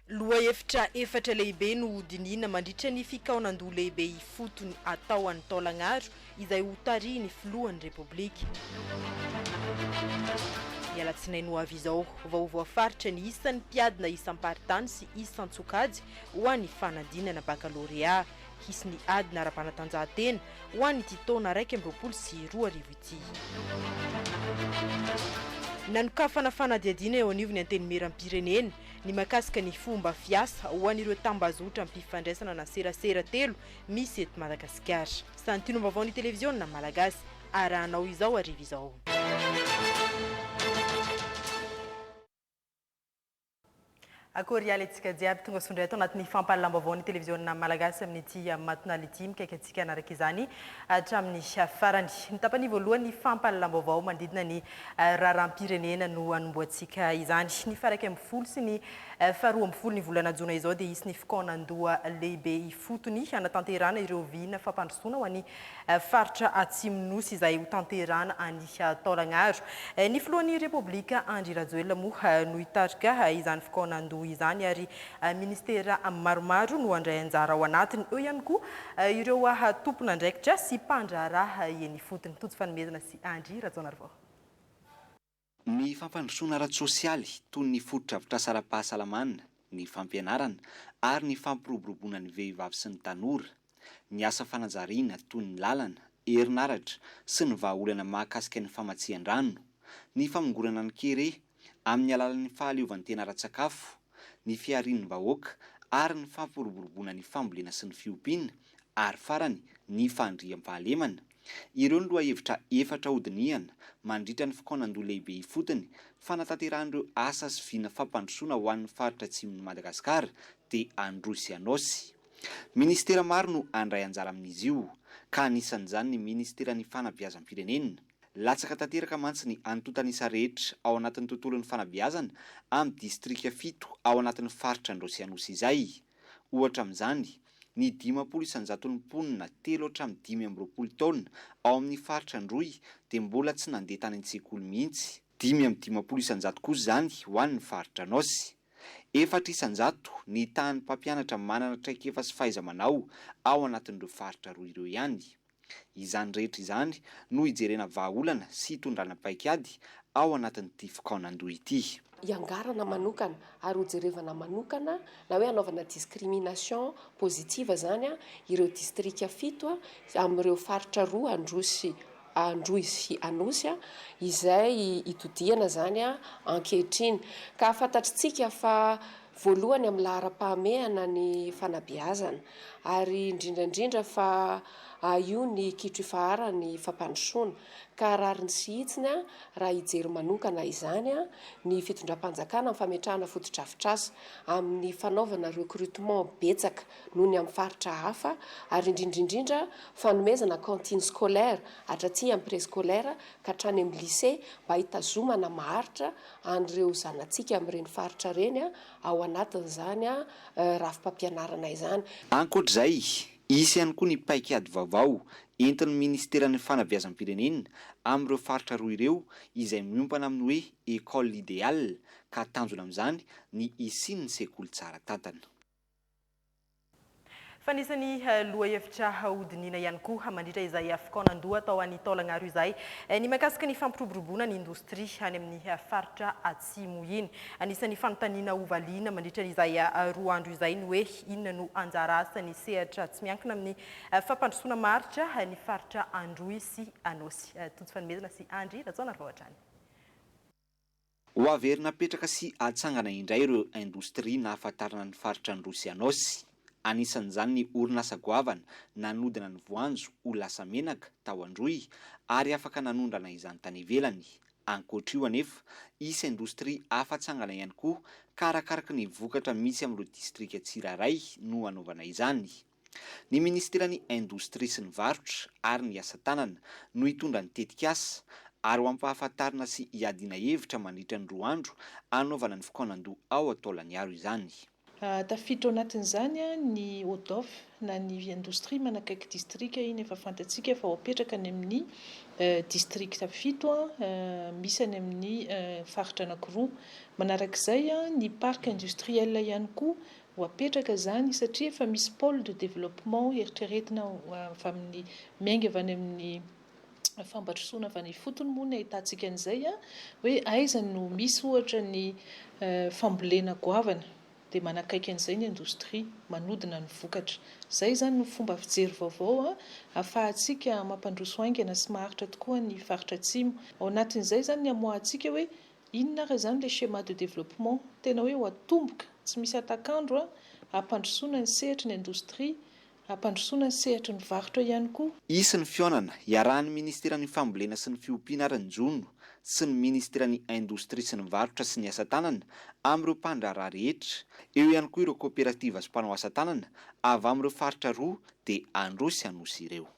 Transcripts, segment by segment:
Lohahevitra efatra lehibe no ho dinihina mandritra ny fikaonan-doha lehibe ifotony atao any Taolagnaro izay ho tarihin'ny filohan'ny Repoblika. Ny alatsinainy ho avy izao vao ho voafaritra ny isan'ny mpiadina isam-paritany sy isan-tsokajy ho an'ny fanadinana bakalorea. Hisy ny adina ara-panatanjahantena ho an'ity taona iraika amby roapolo sy roa arivo ity. Nanokafana fanadihadiana eo anivon'ny Antenimieram-pirenena ny mahakasika ny fomba fiasa ho an'ireo tambazotram-pifandraisana ana serasera telo misy eto Madagasikara. Santionom-baovaon'ny televiziona malagasy arahanao izao hariva izao. Akory hialy antsika jiaby tonga soa indray ato anatin'ny fampahalalam-baovaon'ny televiziona malagasy amin'ity matinal ity. Mikaiky antsika hanaraka izany hatramin'ny farany. Ny tapany voalohan'ny fampahalalam-baovao mandidina ny raharaham-pirenena no hanombohantsika izany. Ny faha iraika ambin'ny folo sy ny Faha roa amby folo ny volana jona izao dia hisy ny fikaonandoha lehibe ifotony hanatanterahana ireo vina fampandrosoana ho an'ny faritra Atsimon'ny Nosy izay ho tanterahana any Taolagnaro. Ny filohan'ny Repoblika Andry Rajoelina moa no hitarika izany fikaonandoha izany ary ministera maromaro no handray anjara ao anatiny. Eo ihany koa ireo tompon'andraikitra sy mpandraharaha eny ifotony. Tojo fanomezana sy Andry Rajaonarivao. Ny fampandrosoana ara-tsosialy, toy ny fotodrafitrasa ara-pahasalamana, ny fampianarana, ary ny fampiroboroboana ny vehivavy sy ny tanora, ny asa fanajariana, toy ny lalana, herinaratra, sy ny vahaolana mahakasika ny famatsian-drano, ny famongorana ny kere amin'ny alalan'ny fahaleovantena ara-tsakafo, ny fiharian'ny vahoaka, ary ny fampiroboroboana ny fambolena sy ny fiompiana, ary farany, ny fandriampahalemana. Ireo ny lohahevitra efatra hodinihana mandritra ny fikaonandoha lehibe ifotony fanatanterahan'ireo asa sy vina fampandrosoana ho an'ny faritra atsimon'i Madagasikara dia Androy sy Anôsy. Minisitera maro no handray anjara amin'izy io, ka anisan'izany ny Minisiteran'ny Fanabeazam-pirenena. Latsaka tanteraka mantsy ny antontan'isa rehetra ao anatin'ny tontolon'ny fanabeazana amin'ny distrika fito ao anatin'ny faritra Androy sy Anosy izay, ohatra amin'izany, Ny dimampolo isan-jaton'ny mponina telo hatramin'ny dimy amby roapolo taona ao amin'ny faritra Androy dia mbola tsy nandeha tany an-tsekoly mihitsy. Dimy amby dimampolo isan-jato kosa izany ho an'ny faritra Anôsy. Efatra isan-jato ny tahan'ny mpampianatra manana traikefa sy fahaiza-manao ao anatin'ireo faritra roa ireo ihany. Izany rehetra izany no hijerena vahaolana sy hitondrana paikady ao anatin'ity fikaonandoha ity. Hiangarana manokana ary hojerevana manokana na hoe hanaovana discrimination positive izany ireo distrika fito amin'ireo faritra roa Androsy Androy sy Anosy izay hitodihana izany ankehitriny ka fantatritsika fa voalohany amin'ny laharam-pahamehana ny fanabeazana ary indrindra indrindra fa io ny kitro ifaharan'ny fampandrosoana ka rariny sy hitsiny raha hijery manokana izany ny fitondram-panjakana amin'ny fametrahana fotodrafitrasa amin'ny fanaovana recrutement betsaka noho ny amin'ny faritra hafa ary indrindra indrindra fanomezana cantine scolaire hatraty amin'ny prescolaire ka hatrany amin'ny lycée mba hitazomana maharitra an'ireo zanatsika amin'ireny faritra ireny ao anatin'izany rafi-pampianarana izany. Ankoatra izay, hisy ihany koa ny paikady vaovao entin'ny Ministeran'ny Fanabeazam-pirenena amin'ireo faritra roa ireo izay miompana amin'ny hoe École idéale ka tanjona amin'izany ny hisian'ny sekoly tsara tantana. Fa nisy ny lohahevitra hodinihina ihany koa mandritra izay Afcon nandoa tao any Taolagnaro izay, ny mahakasika ny fampiroboroboana ny indostria any amin'ny faritra Atsimo iny. Anisan'ny fanontaniana hovaliana mandritra izay roa andro izay ny hoe inona no anjara asan'ny sehatra tsy miankina amin'ny fampandrosoana maharitra ny faritra Androy sy Anôsy. Tojo fanomezana sy Andry Rajaonarivao hatrany. Ho averina apetraka sy atsangana indray ireo indostria nahafantarana ny faritra Androy sy Anôsy. Anisan'izany ny orinasa goavana nanodina ny voanjo ho lasa menaka tao Androy ary afaka nanondrana izany tany ivelany. Ankoatra io anefa, hisy indostria hafa atsangana ihany koa ka arakaraky ny vokatra misy amin'ireo distrika tsirairay no hanaovana izany. Ny Minisiteran'ny Indostria sy ny Varotra ary ny Asa Tanana no hitondra ny tetikasa ary ho ampahafantarina sy hiadiana hevitra mandritra ny roa andro hanaovana ny fikaonandoha ao Antaolaniaro izany. Tafiditra ao anatin'izany ny ODOF na ny Indostria manakaiky Distrika, iny efa fantatsika fa ho apetraka any amin'ny Distrikta fito misy any amin'ny Faritra anankiroa. Manarak'izay ny Parc Industriel ihany koa ho apetraka izany satria efa misy pole de développement eritreretina avy amin'ny miainga avy any amin'ny fampandrosoana avy any ifotony moa ny ahitantsika an'izay an, hoe aiza no misy ohatra ny fambolena goavana dia manakaiky an'izay ny indostria manodina ny vokatra. Izay izany no fomba fijery vaovao ahafahantsika mampandroso haingana sy maharitra tokoa ny faritra Atsimo. Ao anatin'izay izany ny hamoahantsika hoe. Inona ary izany le schéma de développement? Tena hoe ho atomboka, tsy misy hatak'andro a! Hampandrosoana ny sehatry ny indostria, hampandrosoana ny sehatry ny varotra ihany koa. Hisy ny fihaonana iarahan'ny Ministeran'ny Fambolena sy ny Fiompiana ary ny Jono sy ny Ministeran'ny Indostria sy ny Varotra sy ny Asa Tanana amin'ireo mpandraharaha rehetra, eo ihany koa ireo kaoperativa sy mpanao asa tanana avy amin'ireo faritra roa dia Androy sy Anosy ireo.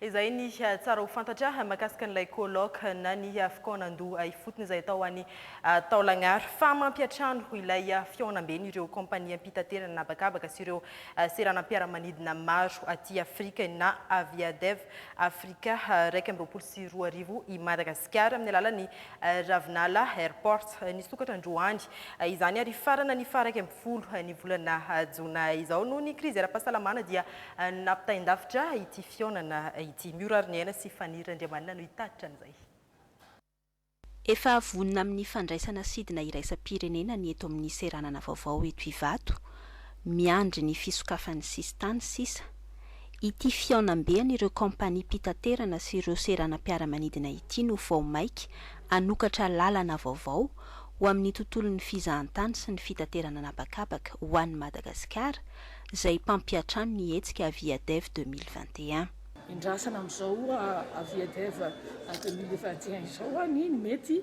Izay ny tsara ho fantatra mahakasika an'ilay colloque na ny fikaonandoha ifotony izay tao any Taolagnaro fa mampiantrano ilay fihaonamben' ireo kaompaniam-pitaterana an'habakabaka sy ireo seranam-piaramanidina maro aty Afrika na Aviadev Africa iraika amby roapolo sy roa arivo i Madagasikara amin'ny alalan'ny Ravinala Airport. Nisokatra androany izany ary hifarana ny faha iraika ambin'ny folo ny volana jona izao. Noho ny krizy ara-pahasalamana dia Nampitain-davitra ity fihaonana ity. Miora ary ny aina sy Faniry Randriamanana no hitatitra an'izay. Efa vonona amin'ny fandraisana sidina iraisam-pirenena ny eto amin'ny seranana vaovao eto Ivato, miandry ny fisokafan'ny sisintany sisa. Ity fihaonambe an'ireo kaompaniam-pitaterana sy ireo seranam-piaramanidina ity no vao mainka hanokatra lalana vaovao ho amin'ny tontolon'ny fizahantany sy ny fitaterana an'habakabaka ho an'i Madagasikara, izay mpampiantrano ny hetsika Aviadev deux mille vingt et un. Endrasana amin'izao Aviadev deux mille vingt et un izao ny mety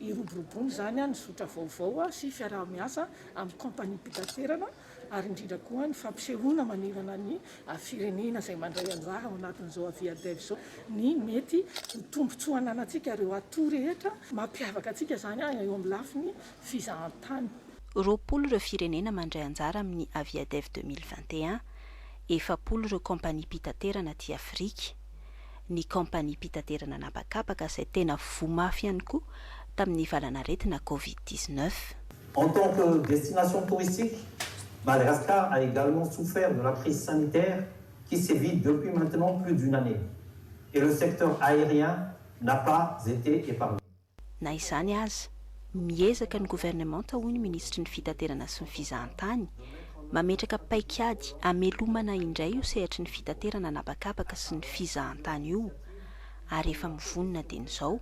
hiroboroboana izany ny zotra vaovao sy fiaraha-miasa amin'ny kaompaniam-pitaterana ary indrindra koa ny fampisehoana manerana ny firenena izay mandray anjara ao anatin'izao Aviadev izao ny mety ho tombontsoa ananantsika ireo atout rehetra mampiavaka antsika izany eo amin'ny lafiny fizahantany. Roapolo ireo firenena mandray anjara amin'ny Aviadev deux mille vingt et un, efapolo ireo kaompaniam-pitaterana aty Afrika. Ny kaompaniam-pitaterana an'habakabaka izay tena voa mafy ihany koa tamin'ny valanaretina Covid dix-neuf. En tant que destination touristique, Madagascar a également souffert de la crise sanitaire qui sévit depuis maintenant plus d'une année et le secteur aérien n'a pas été épargné. Na izany aza, miezaka ny governemanta, hoy ny minisitry ny Fitaterana sy ny Fizahantany, mametraka paikady hamelomana indray io sehatry ny fitaterana an'habakabaka sy ny fizahantany io ary efa mivonona dieny izao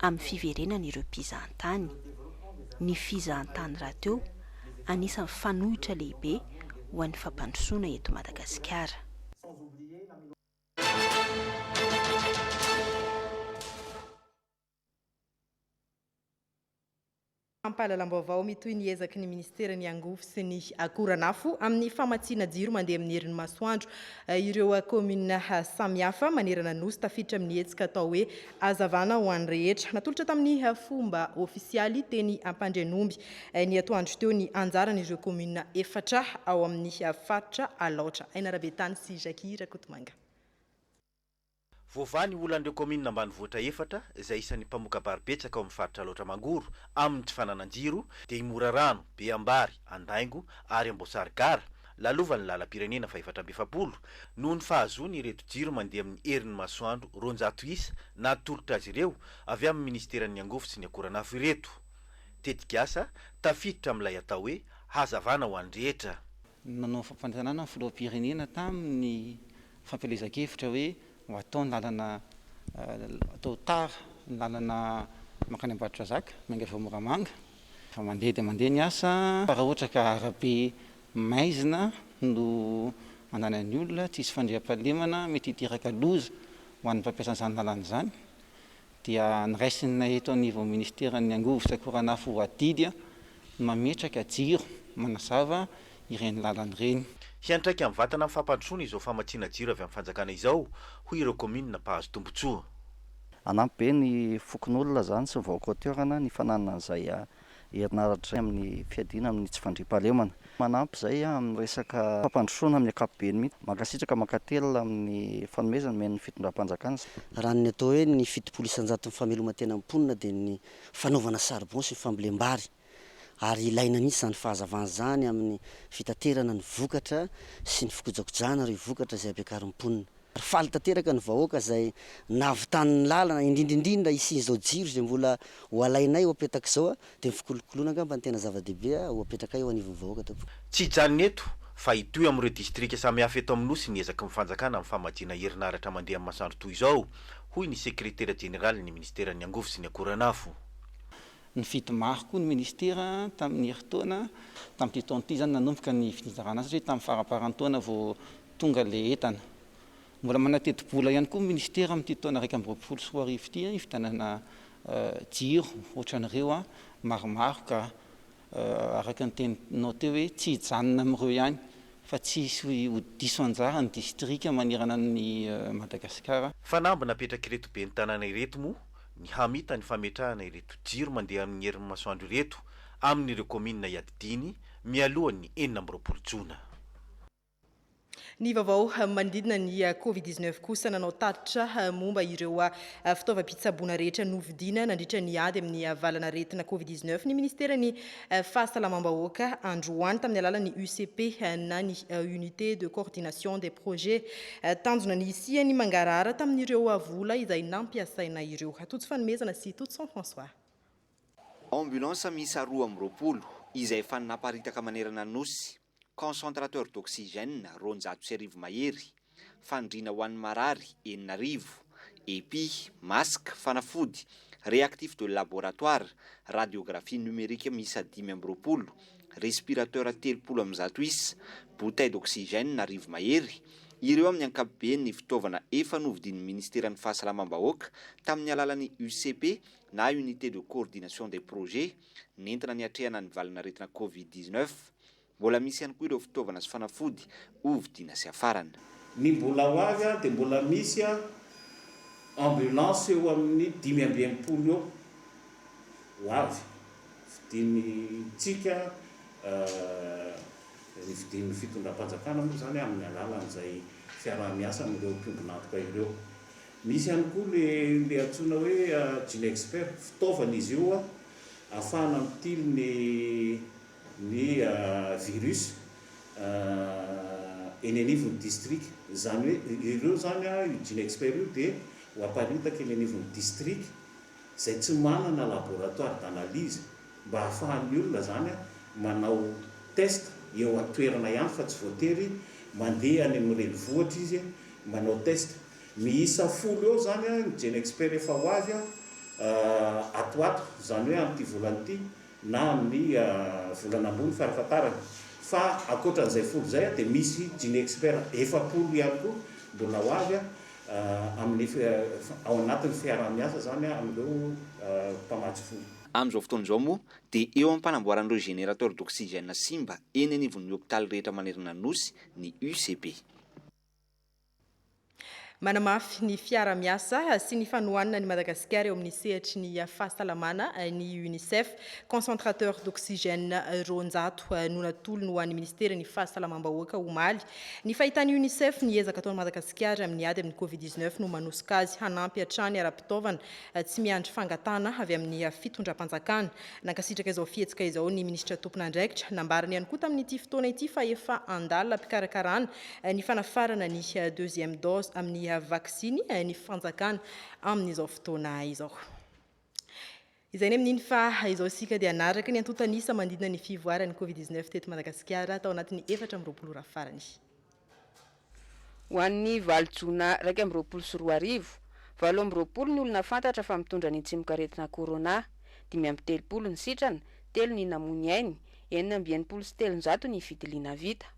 amin'ny fiverenany ireo mpizahantany. Ny fizahantany rahateo, anisan'ny fanoitra lehibe ho an'ny fampandrosoana eto Madagasikara. Fampahalalam-baovao mitohy ny ezaky ny Ministeran'ny Angovo sy ny Akoranafo amin'ny famatsiana jiro mandeha amin'ny herin'ny masoandro ireo kaominina samihafa manerana ny Nosy tafiditra amin'ny hetsika atao hoe Hazavana ho an'ny rehetra. Natolotra tamin'ny fomba ofisialy teny Ampandrianomby ny atoandro teo ny anjaran'ireo kaominina efatra ao amin'ny faritra Alaotra, Ainarabetany sy Jackie Rakotomanga. Voavaha ny olan'ireo kaominina ambanivohitra efatra izay isan'ny mpamoka-bary betsaka ao amin'ny faritra Alaotra Mangoro amin'ny tsy fananan'ny jiro dia i Morarano, Beambary, Andaingo ary Amboasary Gara, lalovan'ny lalam-pirenena fahefatra amby efapolo, noho ny fahazoany ireto jiro mandeha amin'ny herin'ny masoandro roanjato isa natolotra azy ireo avy amin'ny minisiteran'ny Angovo sy ny Akoranafo ireto. Tetikasa tafiditra amin'ilay atao hoe Hazavana ho an'ny rehetra. Nanao fampanantenana ny filoham-pirenena tamin'ny fampielezan-kevitra hoe ho atao ny lalana atao tar ny lalana mankany Ambatondrazaka, miangaviao Moramanga. Efa mandeha dia mandeha ny asa fa raha ohatra ka arabe maizina no ananan'ny olona, tsisy fandriampahalemana, mety hiteraka loza ho an'ny mpampiasa an'izany lalana izany. dia noraisina eto anivon'ny Ministeran'ny Angovo sy Akoranafo ho adidy ny mametraka jiro manazava ireny lalana ireny. Hiantraika amin'ny vatana fampandrosoana izao famatsiana jiro avy amin'ny fanjakana izao, hoy ireo kaominina mpahazo tombontsoa. Hanampy be ny fokonolona izany sy ny vaoka ao toerana ny fananana izay herinaratra amin'ny fiadiana amin'ny tsy fandriampahalemana. Manampy izay amin'ny resaka fampandrosoana amin'ny ankapobeny mihitsy. Mankasitraka mankatelina amin'ny fanomezana omen'ny fitondram-panjakana. Raha ny atao hoe ny fitopolo isan-jaton'ny famelomantena ny mponina dia ny fanaovana charbon sy ny fambolem-bary ary ilaina mihitsy izany fahazavana izany amin'ny fitaterana ny vokatra sy ny fikojakojana ireo vokatra izay ampiakarin'ny mponina. ary faly tanteraka ny vahoaka izay nahavitany ny lalana, indrindra indrindra hisian'izao jiro izay mbola ho alainay ho apetaka izao dia ny fikolokoloana angamba no tena zava-dehibe ho apetrakay eo anivon'ny vahoaka tompoko. Tsy hijanona eto fa hitohy amin'ireo distrika samihafa eto amin'ny Nosy ny ezaky ny fanjakana amin'ny famatsiana herinaratra mandeha amin'ny masoandro toy izao, hoy ny sekretera jeneralin'ny minisiteran'ny Angovo sy ny Akoranafo. Nifidy maro koa ny minisitera tamin'ny herintaona tamin'ity taona ity, izany nanomboka ny fizarana azy satria tamin'ny faramparan-taona vao Tonga ilay entana. Mbola manateti-bola ihany koa ny minisitera amin'ity taona iraika amby roapolo sy roa arivo ity hividianana jiro ohatran'ireo maromaro ka araka ny teninao teo hoe tsy hijanona amin'ireo ihany fa tsy hisy ho diso anjara ny distrika manerana an'i Madagasikara. Fanamby napetrak'ireto ben'ny tanàna ireto moa ny hamita ny fametrahana ireto jiro mandeha amin'ny herin'ny masoandro ireto amin'ireo kaominina iadidiany mialohan'ny enina amby roapolo jona. Ny vaovao manodidina ny Covid dix neuf kosa nanao tatitra momba ireo fitaovam-pitsaboana rehetra novidiana nandritra ny ady amin'ny valanaretina Covid dix neuf ny Ministeran'ny Fahasalamam-bahoaka androany tamin'ny alalan'ny UCP na ny Unité de Coordination des Projets. Tanjona ny hisian'ny mangarahara tamin'ireo vola izay nampiasaina ireo. Tojo Fanomezana sy Tojo Jean François. Ambulance miisa roa amby roapolo izay efa naparitaka manerana ny Nosy. Concentrateur d'oxygène roanjato sy arivo mahery, fandriana ho an'ny marary enina arivo, epi, masque, fanafody, réactif de laboratoire, radiographie numérique miisa dimy amby roapolo, respirateur telopolo amin'ny zato isa, bouteille d'oxygène arivo mahery, ireo amin'ny ankapobeny ny fitaovana efa novidian'ny Ministeran'ny Fahasalamam-bahoaka tamin'ny alalan'ny UCP na Unité de Coordination des Projets, nentina niatrehana ny valin'aretina Covid dix-neuf. Mbola misy ihany koa ireo fitaovana sy fanafody ho vidiana sy hafarana. Ny mbola ho avy dia mbola misy ambulance eo amin'ny dimy amby enimpolo eo ho avy fidintsika, ny fidin'ny fitondram-panjakana moa izany amin'ny alalan'izay fiaraha-miasa amin'ireo mpiombon'antoka ireo. Misy ihany koa ilay antsoina hoe GeneXpert, fitaovana izy io ahafahana mitily ny ny virus eny anivon'ny distrika. Izany hoe ireo izany, io GeneXpert io dia ho aparitaka eny anivon'ny distrika izay tsy manana laboratoire d'analyse mba ahafahan'ny olona izany manao test eo an-toerana ihany fa tsy voatery mandeha any amin'ny renivohitra izy manao test. Miisa folo eo izany ny GenExpert efa ho avy ato ato, izany hoe amin'ity volana ity na amin'ny volana ambony farafahatarany. Fa ankoatra an'izay folo izay dia misy GenExpert efapolo ihany koa mbola ho avy amin'ny ao anatin'ny fiaraha-miasa izany amin'ireo mpamatsy fo. Amin'izao fotoana izao moa dia eo am-panamboarana ireo générateur d'oxygène simba eny anivon'ny hopitaly rehetra manerana ny Nosy ny UCB. Manamafy ny fiara-miasa sy ny fanohanana an'i Madagasikara eo amin'ny sehatry ny fahasalamana ny Unicef. Concentrateur d'oxygène roanjato no natolony ho an'ny Ministeran'ny Fahasalamam-bahoaka omaly. Ny fahitan'ny Unicef ny ezaka ataon'i Madagasikara amin'ny ady amin'ny Covid 19 no manosika azy hanampy hatrany ara-pitaovana tsy miandry fangatahana avy amin'ny fitondram-panjakana. Nankasitraka izao fihetsika izao ny Minisitra tompon'andraikitra. Nambarany ihany koa tamin'ity fotoana ity fa efa an-dalana am-pikarakarana ny fanafarana ny deuxième dose amin'ny vaksiny ny fanjakana amin'izao fotoana izao. Izay ny amin'iny fa izao isika dia hanaraka ny antontan'isa manodidina ny fivoaran'ny Covid 19 teto Madagasikara tao anatin'ny efatra amby roapolo ora farany. Ho an'ny valo jona iraika amby roapolo sy roa arivo, valo amby roapolo ny olona fantatra fa mitondra ny tsimokaretina Corona, dimy amby telopolo ny sitrana, telo ny namoy ny ainy, enina amby enimpolo sy telonjato ny fitiliana vita.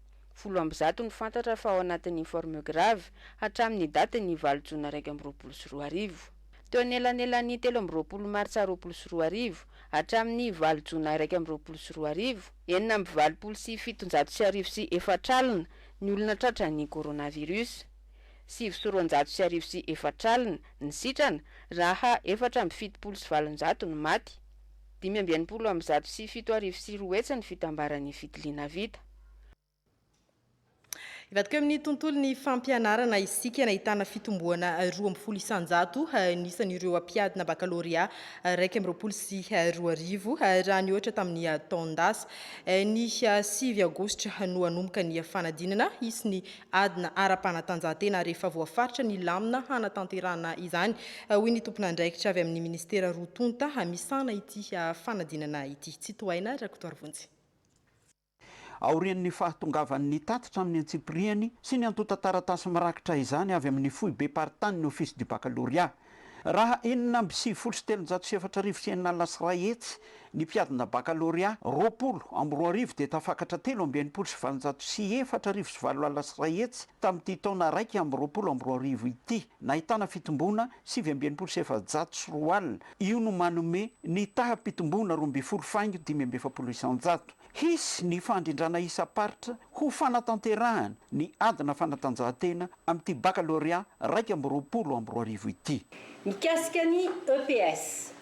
Folo amby zato no fantatra fa ao anatin'ny forme grave hatramin'ny datin'ny valo jona iraika amby roapolo sy roa arivo. Teo anelanelan'ny telo amby roapolo martsa roapolo sy roa arivo hatramin'ny valo jona iraika amby roapolo sy roa arivo, enina amby valopolo sy fitonjato sy arivo sy efatra alina ny olona tratran'ny coronavirus. Sivy sy roanjato sy arivo sy efatra alina ny sitrana raha efatra amby fitopolo sy valonjato no maty. Dimy amby enimpolo amby zato sy fito arivo sy roa hetsy ny fitambaran'ny fitiliana vita. Hivadika amin'ny tontolon'ny fampianarana isika, nahitana fitomboana roa ambin'ny folo isanjato ny isan'ireo mpiadina bakalôrea iraika amby roapolo sy roa arivo raha nihoatra tamin'ny taon-dasa. Ny sivy aogositra no hanomboka ny fanadinana hisy ny adina ara-panatanjahantena rehefa voafaritra ny lamina hanatanterahana izany, hoy ny tomponandraikitra avy amin'ny ministera roa tonta misahana ity fanadinana ity. Tsitohaina Rakotoarivonjy. Aorian'ny fahatongavan'ny tatitra amin'ny antsipirihany sy ny antontan-taratasy mirakitra izany avy amin'ny foibem-paritanin'ny Office du Baccalauréat, raha enina amby sivifolo sy telonjato sy efatra arivo sy enina alina sy iray hetsy ny mpiadina bakalorea roapolo amby roa arivo dia tafakatra telo amby enimpolo sy valonjato sy efatra arivo sy valo alina sy iray hetsy tamin'ity taona iraika amby roapolo amby roa arivo ity, nahitana fitomboana sivy amby enimpolo sy efajato sy roa alina. Io no manome ny taham-pitomboana roa ambin'ny folo faingo dimy amby efapolo isan-jato. Hisy ny fandrindrana isam-paritra ho fanatanterahana ny adina fanatanjahantena amin'ity bakalorea iraika amby roapolo amby roa arivo ity. Mikasika ny EPS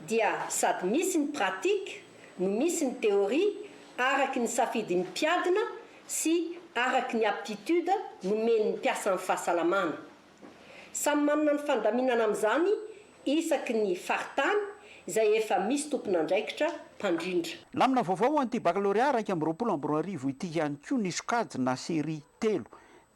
dia sady misy ny pratique no misy ny théorie araky ny safidin'ny mpiadina sy araky ny aptitude nomen'ny mpiasan'ny fahasalamana. Samy manana ny fandaminana amin'izany isaky ny faritany izay efa misy tompon'andraikitra mpandrindra. Lamina vaovao ho an'ity Bakalôrea iraika amby roapolo amby roa arivo ity ihany koa ny sokajina série telo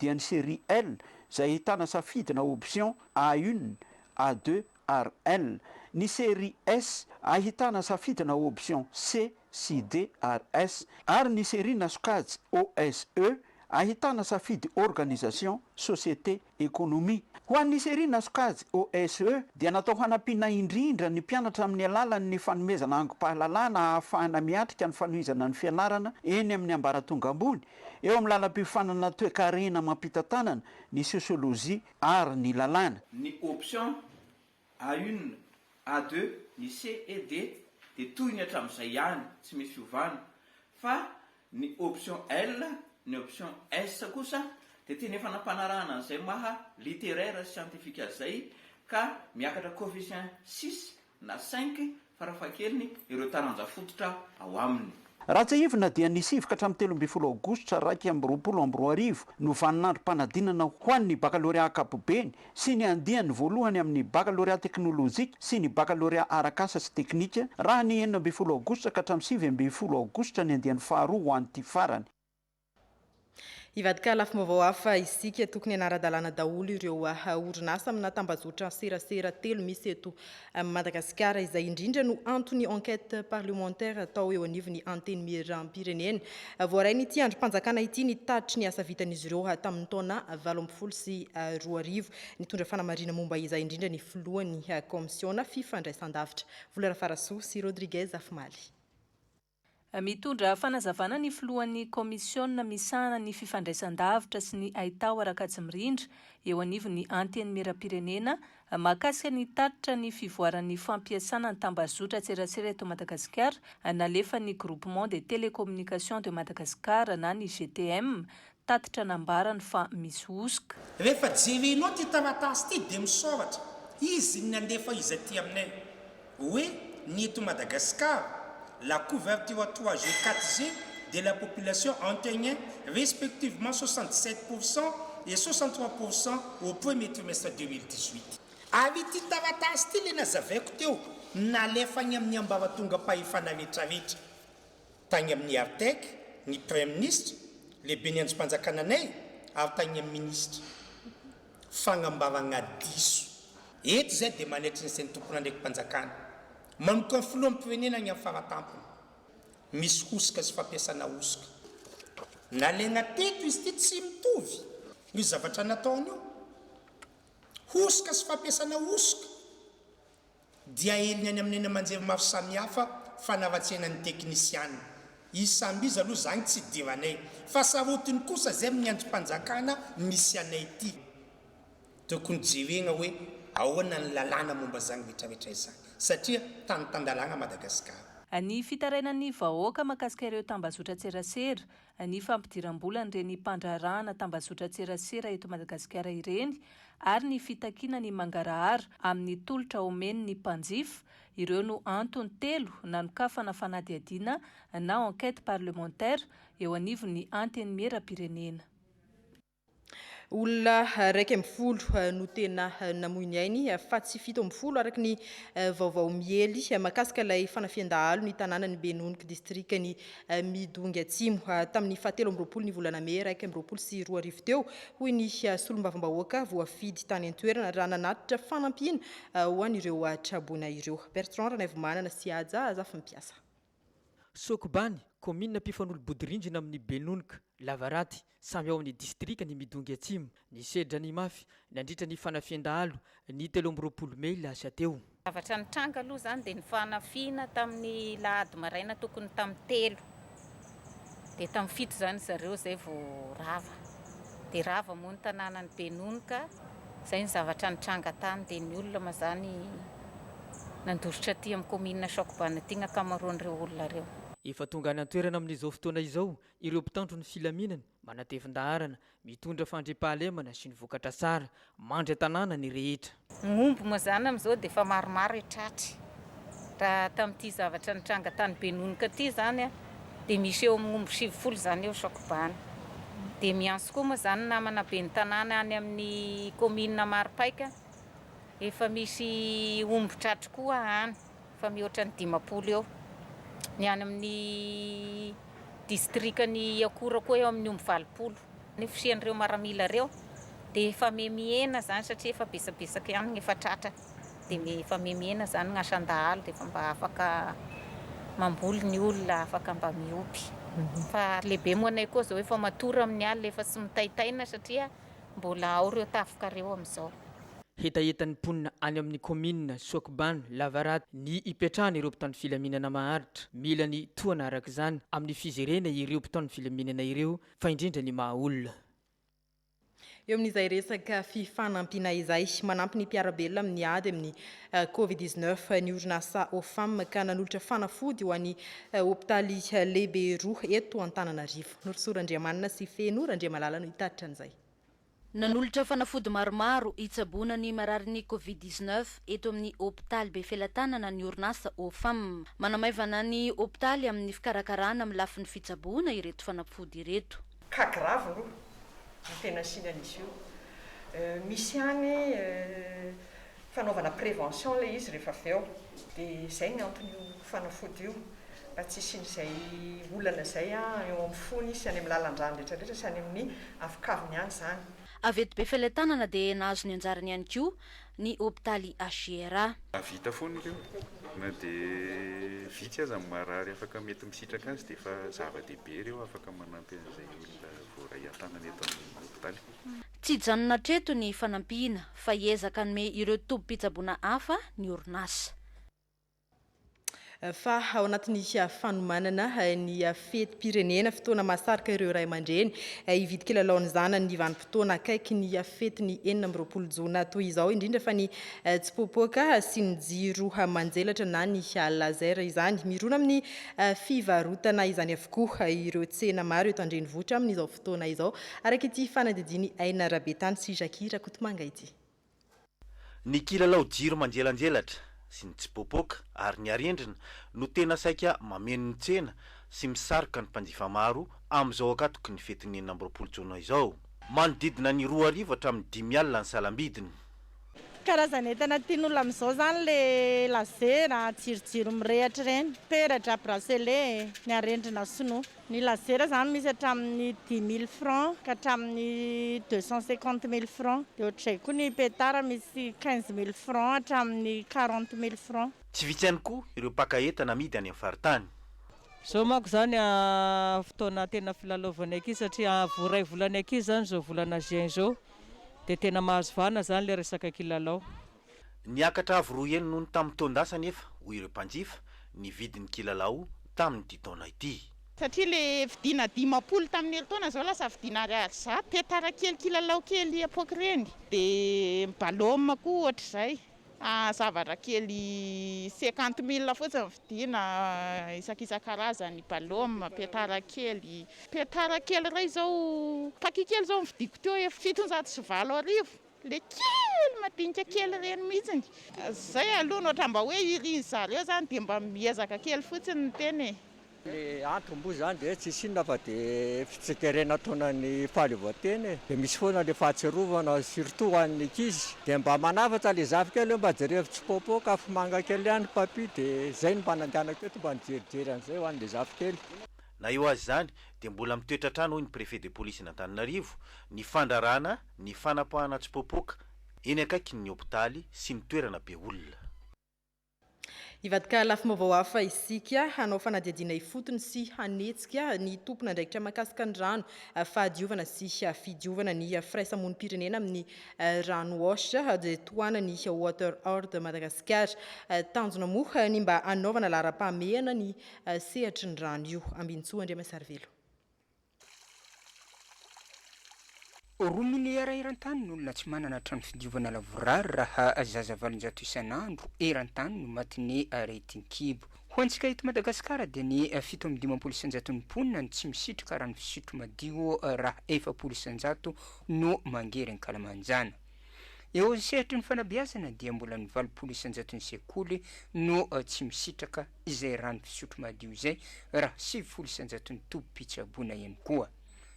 dia ny série L izay ahitana safidy na option A une, A deux ary L. Ny série S ahitana safidy na option C CDRS, ary ny serie na sokajy OSE ahitana safidy organisation, société, économie. Ho an'ny serie na sokajy OSE dia natao hanampiana indrindra ny mpianatra amin'ny alalan'ny fanomezana angom-pahalalana ahafahana miatrika ny fanohizana ny fianarana eny amin'ny ambaratonga ambony eo amin'ny lalam-piofanana toekarena amam-pitantanana ny sosiolojia ary ny lalàna. Ny option A une, A deux, ny C et D dia toy ny hatramin'izay ihany, tsy misy fiovana, fa ny option L, ny option S kosa dia tena efa nampanarahana an'izay maha littéraire sy scientifique azy izay ka miakatra coefficient six na cinq farafahakeliny ireo taranja fototra ao aminy. Raha tsiahivina dia ny sivy ka hatramin'ny telo ambin'ny folo aogositra iraika amby roapolo amby roa arivo no vaninandrom-panadinana ho an'ny bakalorea ankapobeny sy ny andiany voalohany amin'ny bakalorea teknolojika sy ny bakalorea arak'asa sy teknika raha ny enina ambin'ny folo aogositra ka hatramin'ny sivy ambin'ny folo aogositra ny andiany faharoa ho an'ity farany. Hivadika lafim-baovao hafa isika. Tokony hanara-dalàna daholo ireo ah, orinasa amina tambazotra serasera telo misy eto ah, Madagasikara. Izay indrindra no anton'ny enquête parlementaire atao eo anivon'ny Antenimierampirenena. Ah, voarain'ity andrim-panjakana ity ny tatitry ny asa vitan'izy ireo ah, tamin'ny taona valo ambin'ny folo sy roa arivo. Nitondra fanamarihana momba izay indrindra ny filohan'ny kaomisiona fifandraisandavitra, Vola Rafarasoa sy Rodriguez Afimaly. Mitondra fanazavana ny filohan'ny kaomisiona misahana ny fifandraisan-davitra sy ny haitao Rakajimirindra eo anivon'ny Antenimierampirenena mahakasika ny tatitra ny fivoaran'ny fampiasana ny tambazotran-tserasera eto Madagasikara nalefan'ny Groupement des Télécommunications de Madagascar na ny GTM Tatitra nambarany fa misy hosoka. Rehefa jerenao ity taratasy ity dia misaoratra izy ny nandefa izy aty aminay hoe ny eto Madagascar la couverture trois G quatre G de la population antegnin respectivement soixante dix sept pour cent et soixante trois pour cent au premier trimestre deux mille dix huit. Ary ity taratasy ity ilay nazavaiko teo nalefany amin'ny ambaratongam-pahefana rehetrarehetra. Tagny amin'ny Artec, ny Praiminisitra, Lehiben'ny Andrimpanjakana anay ary tagny amin'ny Minisitra. Fagnambaragna diso. Eto izay dia manaitry ny sain'ny Tompon'andraiki-panjakana manompo an'ny Filoham-pirenena agny amin'ny faratampony. Misy hosoka sy fampiasana hosoka. Nalaigna teto izy ity tsy mitovy io zavatra nataony io. Hosoka sy fampiasana hosoka. dia aheriny any amin'ny eny aman-jery maro samihafa fanaratsiana ny teknisiana. Izy samby izy aloha izany tsy idiranay fa sarotiny kosa izay amin'ny andrim-panjakana misy anay ity. Tokony jerena hoe ahoana ny lalàna momba izany rehetrarehetra izany satria tany tan-dalàna Madagasikara. Ny fitarainan'ny vahoaka mahakasika ireo tambazotran-tserasera, ny fampidiram-bolan'ireny mpandraharahana tambazotran-tserasera eto Madagasikara ireny ary ny fitakiana ny mangarahara amin'ny tolotra omeny ny mpanjifa, ireo no antony telo nanokafana fanadihadiana na enquête parlementaire eo anivon'ny Antenimieram-pirenena. Olona iraika ambin'ny folo no tena namoy ny ainy fa tsy fito ambin'ny folo araka ny vaovao miely mahakasika ilay fanafihan-dahalo ny tanànan'i Benoniko distrikan'i Midongy Atsimo tamin'ny fahatelo amby roapolo ny volana mey iraika amby roapolo sy roa arivo teo hoy ny solombavambahoaka voafidy tany an-toerana raha nanatitra fanampiana ho an'ireo traboina ireo. Bertrand Ranaivomanana sy Haja Azafimpiasa. Sokobany, kaominina mpifanolo-bodirindrina amin'ny Benonka, Lavaraty, samy ao amin'ny distrikan'i Midongy Atsimo, ny sedra nimafy nandritra ny fanafihan-dahalo ny telo amby roapolo mey lasa teo. Ny zavatra nitranga aloha izany dia ny fanafihana tamin'ny lahady maraina tokony tamin'ny telo, dia tamin'ny fito izany ry zareo izay vao rava. Dia rava moa ny tanànan'i Benonoka. Izay ny zavatra nitranga tany. Dia ny olona moa izany nandositra aty amin'ny kaominina Sokobana aty ny ankamaroan'ireo olona ireo. Efa tonga any an-toerana amin'izao fotoana izao ireo mpitandro ny filaminana, manatevin-daharana, mitondra fandriampahalemana sy ny vokatra tsara. Mandry an-tanàna ny rehetra. Ny omby moa izany amin'izao dia efa maromaro e tratry. Raha tamin'ity zavatra nitranga tany Benonoka ity izany dia misy eo amin'ny omby sivifolo izany eo Sokobany. Dia miantso koa moa izany ny namana ben'ny tanàna any amin'ny kaominina Maropaika, efa misy omby tratry koa any. fa mihoatra ny dimampolo eo ny any amin' ny distrikan' i Akora koa eo amin' ny omby valopolo. Ny fisian' ireo maramila ireo dia efa mihemihena izany satria efa betsabetsaka ihany ny efa tratra dia efa mihemihena izany ny asan-dahalo dia efa mba afaka mamboly ny olona afaka mba miompy fa lehibe moa anay koa izao efa matory amin' ny alina efa tsy mitaitaina satria Mbola ao reo tafika reo amizao. Hetahetan'ny mponina any amin'ny kaominina Soakibano lavaratra ny ipetrahana ireo mpitandro filaminana maharitra. Mila ny tohana araka izany amin'ny fijerena ireo mpitandro filaminana ireo fa indrindra ny maha olona. Eo amin'izay resaka fifanampiana izay, manampy ny mpiara-belona amin'ny ady amin'ny Covid dix neuf ny orinasa OFAM ka nanolotra fanafody ho an'ny hopitaly lehibe roa eto Antananarivo. Norosoa Randriamanana sy Feno Randriamalala no hitatitra an'izay. Nanolotra fanafody maromaro hitsaboana ny mararin'ny Covid dix-neuf eto amin'ny hopitaly Befelatanana ny orinasa OFAM. Manamaivana ny hopitaly amin'ny fikarakarana amin'ny lafiny fitsaboana ireto fanafody ireto. Cas grave aloha no tena asiana an'izy io. Misy ihany Fanaovana prévention ilay izy rehefa avy eo. Dia izay ny anton'io fanafody io. Mba tsy hisian'izay olana izay an, eo amin'ny fony sy any amin'ny lalan-dràny rehetra rehetra sy any amin'ny avokaviny any izany. Avy eto Befelatanana dia nahazo ny anjarany ihany koa ny hopitaly HJRA. Mahavita foana ireo. Na dia vitsy aza ny marary afaka mety misitraka azy dia efa zava-dehibe ireo afaka manampy an'izay olona voaray an-tanana eto amin'ny hopitaly. Tsy hijanona hatreto ny fanampiana fa hiezaka hanome ireo tobim-pitsaboana hafa ny orinasa. Fa ao anatin'ny fanomanana ny fetim-pirenena, fotoana mahasarika ireo ray aman-dreny hividy kilalao ny zanany ny vanim-potoana akaiky ny fetin'ny enina amby roapolo jona toy izao, indrindra fa ny tsipoapoaka sy ny jiro manjelatra na ny laser izany. Mirona amin'ny fivarotana izany avokoa ireo tsena maro eto an-drenivohitra amin'izao fotoana. fotoana izao, araka ity fanadihadian'i Aina Rabetany sy Jackie Rakotomanga ity. Ny kilalao jiro manjelanjelatra sy ny tsipoapoaka ary ny arendrina no tena saika mameno ny tsena sy misarika ny mpanjifa maro amin'izao ankatoky ny fetin'ny enina amby roapolo jona izao. Manodidina ny roa arivo hatramin'ny dimy alina ny salam-bidiny. Karazan'entana tian'olona amin'izao izany ilay lazera, jirojiro mirehatra ireny, peratra, bracelet, ny arendrina sinoa. Ny lazera izany misy hatramin'ny dix mille francs ka hatramin'ny deux cent cinquante mille francs. Dia ohatr'izay koa ny petard misy quinze mille francs hatramin'ny quarante mille francs. Tsy vitsy ihany koa ireo mpaka entana amidy any amin'ny faritany. Izao manko izany fotoana tena filalaovan'ny ankizy satria iray volan'ny ankizy izany izao volana juin izao dia tena mahazo vahana izany ilay resaka kilalao. Niakatra avo roa heny noho ny tamin'ny taon-dasa anefa, hoy ireo mpanjifa, ny vidin'ny kilalao tamin'ity taona ity. Satria ilay vidiana dimampolo tamin'ny herintaona izao lasa vidiana ariary zato. Petara kely, kilalao kely epoque ireny. Dia ballom koa ohatr'izay. Zavatra kely cinquante mille fotsiny no vidiana isakisan-karazany, ballom, petara kely. Petara kely iray izao, paquet kely izao nividiako teo, fitonjato sy valo arivo. Le kely madinika kely ireny mihitsiny. Zay aloha no ohatran mba hoe irin zareo zany dia mba miezaka kely fotsiny ny tena e. Ny antony moa izany dia tsisy inona fa dia fitsikeren ataona ny fahaleovantena e, dia misy foana ilay fahatsiarovana surtout ho an'ny ankizy, dia mba manafatra ilay zafy kely hoe mba jereo mitsipoapoaka afomanga kely ihany ny papy dia izay no mba nandehanako eto mba nijerijery an'izay ho an'ilay zafy kely. Na eo aza izany dia mbola mitoetra hatrany hoy ny Préfet de Police-n'Antananarivo ny fandrarana Ny fanapahana tsy popoka eny akaikin' ny hopitaly sy ny toerana be olona. Hivadika lafim-baovao hafa isika, hanao fanadihadiana ifotony sy hanetsika ny tompon'andraikitra mahakasika ny rano, fahadiovana sy fidiovana ny firaisamonim-pirenena amin'ny rano Wash the tohanan'ny Water Hoard Madagasikara. Tanjona moa ny mba hanaovana laharam-pahamehana ny sehatry ny rano io. Ambinintsoa Andriamasarivelo. Roa milieu ara eran-tany ny olona tsy manana trano fidiovana lavorary raha zaza valonjato isan'andro eran-tany no matin'ny aretin-kibo. Ho antsika eto Madagasikara dia ny fito amby dimampolo isanjaton'ny mponina no tsy misitrika rano fisotro madio raha efapolo isanjato no mangery ankalamanjana. Eo amin'ny sehatry ny fanabeazana dia mbola ny valopolo isanjaton'ny sekoly no tsy misitraka izay rano fisotro madio izay raha sivifolo isan-jaton'ny tobim-pitsaboana ihany koa.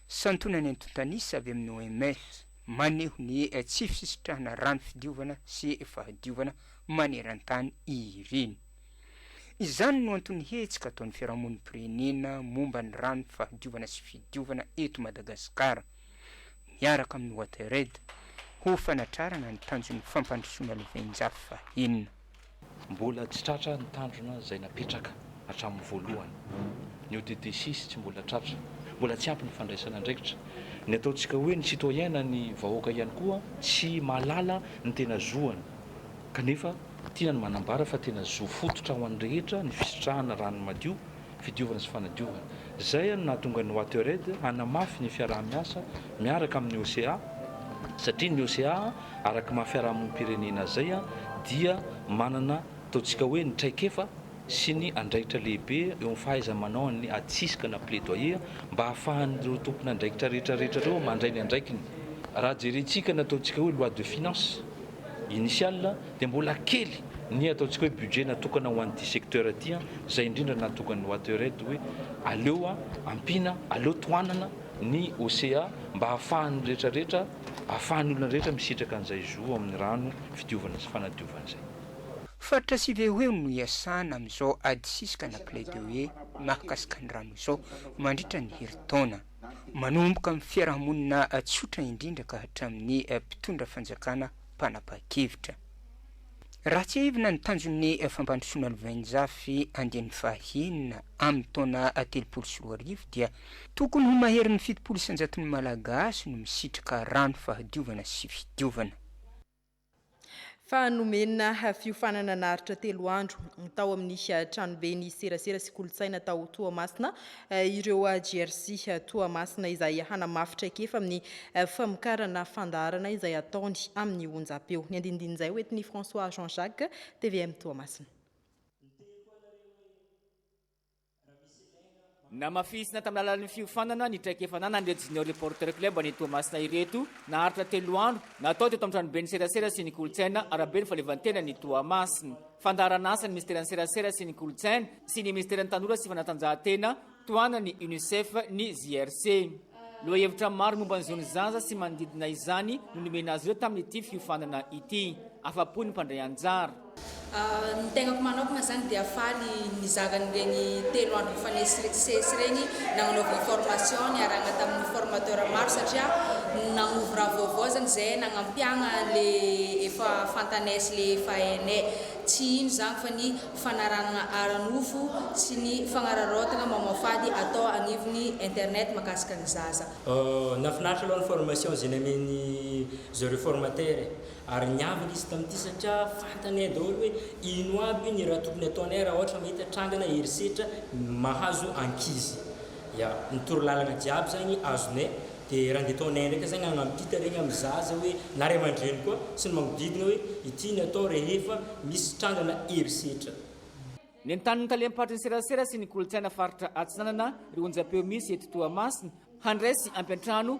Santionany antontan'isa avy amin'ny OMS maneho ny tsy fisitrahana rano fidiovana sy fahadiovana maneran-tany ireny. Izany no anton'ny hetsika ataon'ny Fiarahamonim-pirenena momba ny rano fahadiovana sy fidiovana eto Madagasikara, miaraka amin'ny Wateraid, ho fanatrarana ny tanjon'ny fampandrosoana lovain-jafy fahenina. Mbola tsy tratra ny tandrona izay napetraka hatramin'ny voalohany. Ny ODD-six tsy mbola tratra. Mbola tsy ampy ny fandraisana andraikitra. Ny ataontsika hoe ny citoyen na ny vahoaka ihany koa tsy mahalala ny tena zoany kanefa tiana ny manambara fa tena zo fototra ho an'ny rehetra ny fisitrahana rano madio fidiovana sy fanadiovana. Izay no nahatonga ny Watered hanamafy ny fiaraha-miasa miaraka amin'ny OCA satria ny OCA araka ny maha fiarahamonim-pirenena azy izay dia manana ataontsika hoe ny traikefa sy ny andraikitra lehibe eo amin'ny fahaiza-manaon'ny atsiska na plaidoyer mba hahafahan'ireo tompon'andraikitra rehetra rehetra ireo mandray ny andraikiny. Raha jerentsika ny ataontsika hoe loi de finances. initiale dia mbola kely ny ataontsika hoe budget natokana ho an'ity secteur ity an, izay indrindra natokan'ny Watered hoe aleo ampiana, aleo tohanana ny OCA mba ahafahan'ny rehetra rehetra, ahafahan'ny olona rehetra misitraka an'izay zo ao amin'ny rano fidiovana sy fanadiovana izay. Faritra sy ve hoe no iasana amin'izao ady sisika na plaidoyer mahakasika ny rano izao mandritra ny herintaona? manomboka amin'ny fiarahamonina tsotra indrindra ka hatramin'ny mpitondra fanjakana mpanapa-kevitra. Raha tsiahivina ny tanjon'ny fampandrosoana lovainjafy andiany fahenina amin'ny taona telopolo sy roa arivo dia tokony ho maherin'ny fitopolo isan-jaton'ny Malagasy no misitraka rano fahadiovana sy fidiovana. fa nomena fiofanana naharitra telo andro tao amin'ny eh, tranoben'ny serasera sy kolontsaina tao Toamasina eh, ireo GRC eh, Toamasina izay hanamafy traikefa amin'ny famokarana fandaharana izay ataony amin'ny onjam-peo. Ny andinindin'izay ho entin'i François Jean Jacques, TVM Toamasina. Namafisina tamin'ny alalan'ny fiofanana ny traikefa ananan'ireto Junior Reporter Club any Toamasina ireto, naharitra telo andro, natao teto amin'ny tranoben'ny serasera sy ny kolontsaina Araben'ny fahaleovantenan'i Toamasina. Fandaharanasan'ny Minisiteran'ny serasera sy ny kolontsaina sy ny Minisiteran'ny tanora sy fanatanjahantena, tohanan'ny Unicef, ny JRC. Lohahevitra maro momba ny zon'ny zaza sy manodidina izany no nomena azy ireo tamin'ity fiofanana ity. Afa-po ny mpandray anjara. Ny tenako manokana izany dia faly nizara an'ireny telo andro nifanesy CES ireny nagnanaovana formation niarahana tamin'ny formateur maro satria nagnovy raha vaovao izany izay nagnampiagna an'ilay efa fantanay sy ilay efa hainay. Tsy ino izany fa ny fanaranana ara-nofo sy ny fagnararaotana mamoafady atao agnivon'ny internet mahakasika ny zaza. Nahafinaritra aloha ny formation izay namen'i zareo formateur e! ary niavaka izy tamin'ity satria fantanay daholo hoe ino aby ny raha tokony ataonay raha ohatra mahita trangana herisetra mahazo ankizy. Ya, ny torolalana jiaby zany azonay de raha ndeha ataonay ndraika zany hanampita regny amin'ny zaza hoe na ray aman-dreny koa sy ny magnodidina hoe ity ny atao rehefa misy trangana herisetra. Nentany ny talem-paritry ny serasera sy ny kolontsaina faritra Atsinanana ry onjam-peo misy eto Toamasina handray sy hampiantrano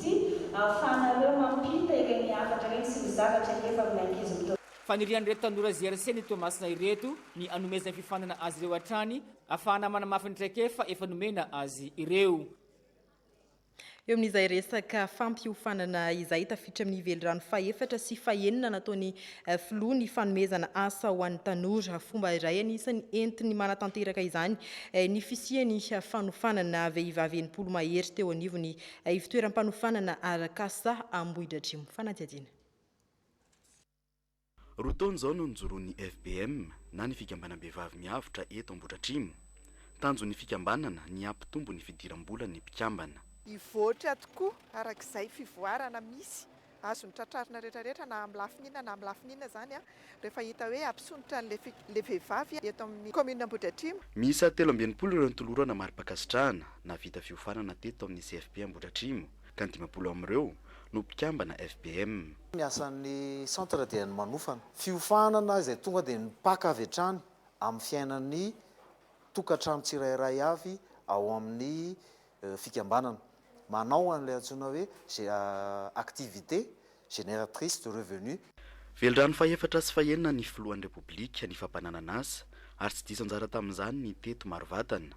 sy ahafahanareo mampita ireny hafatra ireny sy ny zavatra efa amin'ny ankizy mitovy. Fanirian'ireto tanora GRC ny Toamasina ireto ny anomezany fifanana azy ireo hatrany afahana manamafy ny traikefa efa nomena azy ireo. Eo amin'izay resaka fampiofanana izay tafiditra amin'ny velirano fahefatra sy fahenina nataon'ny Filoha ny fanomezana asa ho an'ny tanora. Fomba iray anisan'ny entiny manatanteraka izany ny fisian'ny fanofanana vehivavy enimpolo mahery teo anivon'ny Ivotoeram-panofanana arak'asa Ambohidratrimo. Fanadihadiana. Roa taona izao no nijoroan'ny FBM na ny Fikambanam-behivavy miavotra eto Ambohidratrimo. Tanjon'ny fikambanana ny hampitombo ny fidiram-bolan'ny mpikambana. Hivoatra tokoa arak'izay fivoarana misy Azony tratrarina rehetra rehetra na amin'ny lafiny inona na amin'ny lafiny inona izany rehefa hita hoe hampisondrotra an'ilay vehivavy eto amin'ny commune Ambohidratrimo. Miisa telo amby enimpolo ireo nitolorana mari-pankasitrahana nahavita fiofanana teto amin'ny CFP Ambohidratrimo ka ny dimampolo amin'ireo no mpikambana FBM. Ny asan'ny centre dia ny manofana. Fiofanana izay tonga dia mipaka avy hatrany amin'ny fiainan'ny tokantrano tsirairay avy ao amin'ny fikambanana manao an'ilay antsoina hoe activité génératrice de revenu. Velirano fahefatra sy fahenina ny filohan'ny Repoblika ny fampananan'asa ary tsy diso anjara tamin'izany ny teto maro vatana,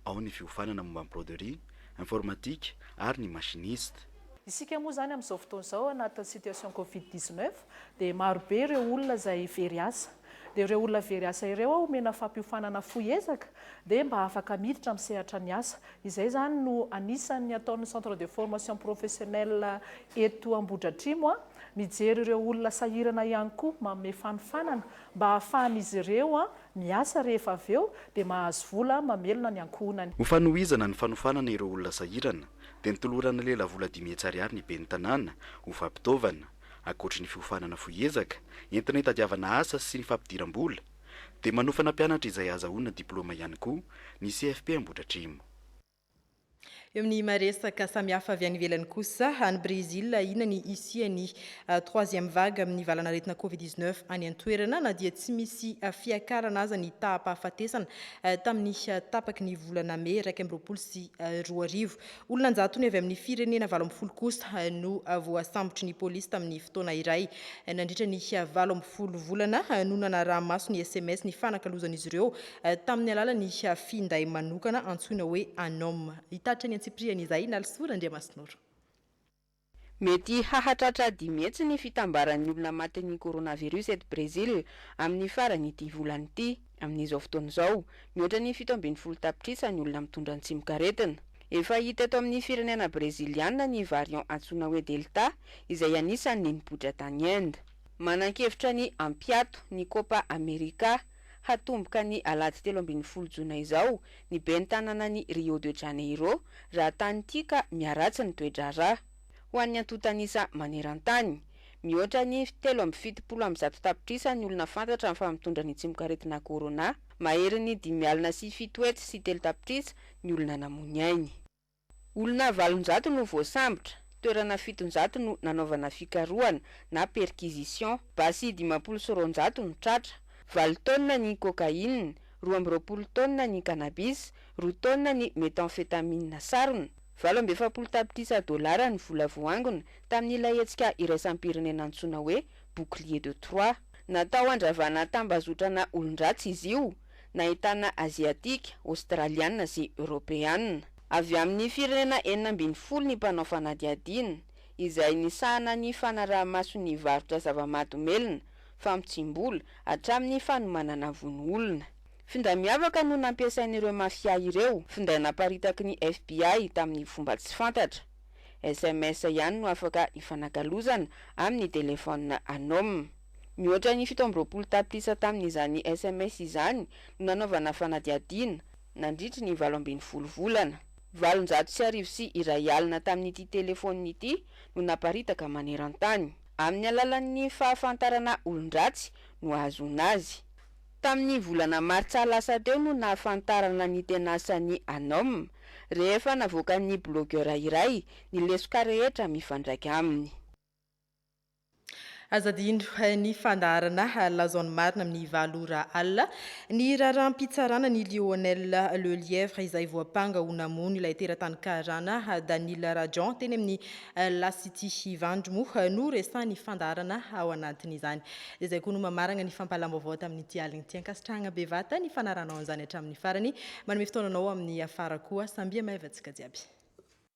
ao ny fiofanana momba ny broderie, informatique ary ny machiniste. Isika moa izany amin'izao fotoana izao anatin'ny situation covid dix-neuf dia marobe ireo olona izay very asa. dia ireo olona very asa ireo aho omena fampiofanana fohy ezaka dia mba afaka miditra amin'ny sehatra ny asa. Izay izany no anisan'ny ataon'ny Centre de Formation Professionnelle eto Ambohidratrimo, mijery ireo olona sahirana ihany koa, manome fanofanana mba ahafahan'izy ireo miasa rehefa avy eo dia mahazo vola mamelona ny ankohonany. Ho fanohizana ny fanofanana ireo olona sahirana dia nitolorana lelavola dimy hetsy ariary ny Ben'ny tanàna ho fampitaovana. Ankoatry ny fiofanana fohy ezaka entina hitadiavana asa sy ny fampidiram-bola, dia manofana mpianatra izay ahazahoana diplaoma ihany koa ny CFP Ambohidratrimo. Eo amin'ny maha-resaka samihafa avy any ivelany kosa, any Brezila, inona ny hisian'ny troisième vague amin'ny valanaretina Covid dix neuf any an-toerana na dia tsy misy fiakarana aza ny taham-pahafatesana tamin'ny tapaky ny volana mey iraika amby roapolo sy roa arivo? Olona an-jatony avy amin'ny firenena valo ambin'ny folo kosa no voasambotry ny polisy tamin'ny fotoana iray. Nandritra ny valo ambin'ny folo volana no nanaraha-maso ny sms nifanakalozan'izy ireo tamin'ny alalan'ny finday manokana antsoina hoe Anom. Hitatitra ny antsipirihany izay Nalisoa Randriamasinoro. Mety hahatratra dimy hetsy ny fitambaran'ny olona matin'ny coronavirus eto Brésil amin'ny faran'ity volana ity. Amin'izao fotoana izao, mihoatra ny fito ambin'ny folo tapitrisa ny olona mitondra ny tsimok'aretina. Efa hita eto amin'ny firenena Breziliana ny variant antsoina hoe Delta, izay anisan'ny nipoitra tany Inde. Manan-kevitra ny hampiato ny Copa America hatomboka ny alahady telo ambin'ny folo jona izao ny ben'ny tanànan'i Rio de Janeiro raha tany ity ka miharatsy ny toe-draharaha. Ho an'ny antontan'isa maneran-tany, mihoatra ny telo amby fitopolo amby zato tapitrisa ny olona fantatra amin'ny faha-mitondra ny tsimokaretina corona, maherin'ny dimy alina sy fito hetsy sy telo tapitrisa ny olona namoy ny ainy. Olona valonjato no voasambotra, toerana fitonjato no nanaovana fikarohana na perquisition, basy dimampolo sy roanjato no tratra, valo taonina ny cocaïne, roa amby roapolo taonina ny cannabis, roa taonina ny methamphetamine sarona, valo amby efapolo tapitrisa dolara ny vola voaangona tamin'ilay hetsika iraisam-pirenena antsoina hoe Bouclier de Troie. Natao handravana tambazotrana olon-dratsy izy io. nahitana Aziatika, Aostraliana sy Eoropeana. Avy amin'ny firenena enina ambin'ny folo ny mpanao fanadihadiana, izay nisahana ny fanaraha-maso ny varotra zava-mahadomelina, famotsiam-bola, hatramin'ny fanomanana vono olona. Finday miavaka no nampiasain'ireo mafia ireo, finday naparitaky ny FBI tamin'ny fomba tsy fantatra. SMS ihany no afaka ifanakalozana amin'ny telefaonina anôma. Mihoatra ny fito amby roapolo tapitrisa tamin'izany sms izany no nanaovana fanadihadiana, nandritry ny valo ambin'ny folo volana. Valonjato sy arivo sy iray alina tamin'ity telefaonina ity no naparitaka maneran-tany. Amin'ny alalan'ny fahafantarana olon-dratsy no ahazoana azy. Tamin'ny volana martsa lasa teo no nahafantarana ny tena asan'i Anom, rehefa navoakan'ny bilaogera iray ny lesoka rehetra mifandraika aminy. Aza adino ny fandaharana Lazao ny marina amin'ny valo ora alina. Ny raharaham-pitsarana ny Lionel Lelièvre izay voampanga ho namono ilay teratany karana Daniel Rajan teny amin'ny La City Ivandry moa no resahin'ny fandaharana ao anatin'izany. Dia izay koa no mamaragna ny fampahalalam-baovao tamin'ity alina ity. Ankasitrahagna bevata ny fanarahanao an'izany hatramin'ny farany. Manome fotoana anao amin'ny afara koa. Sambia maivantsika jiaby.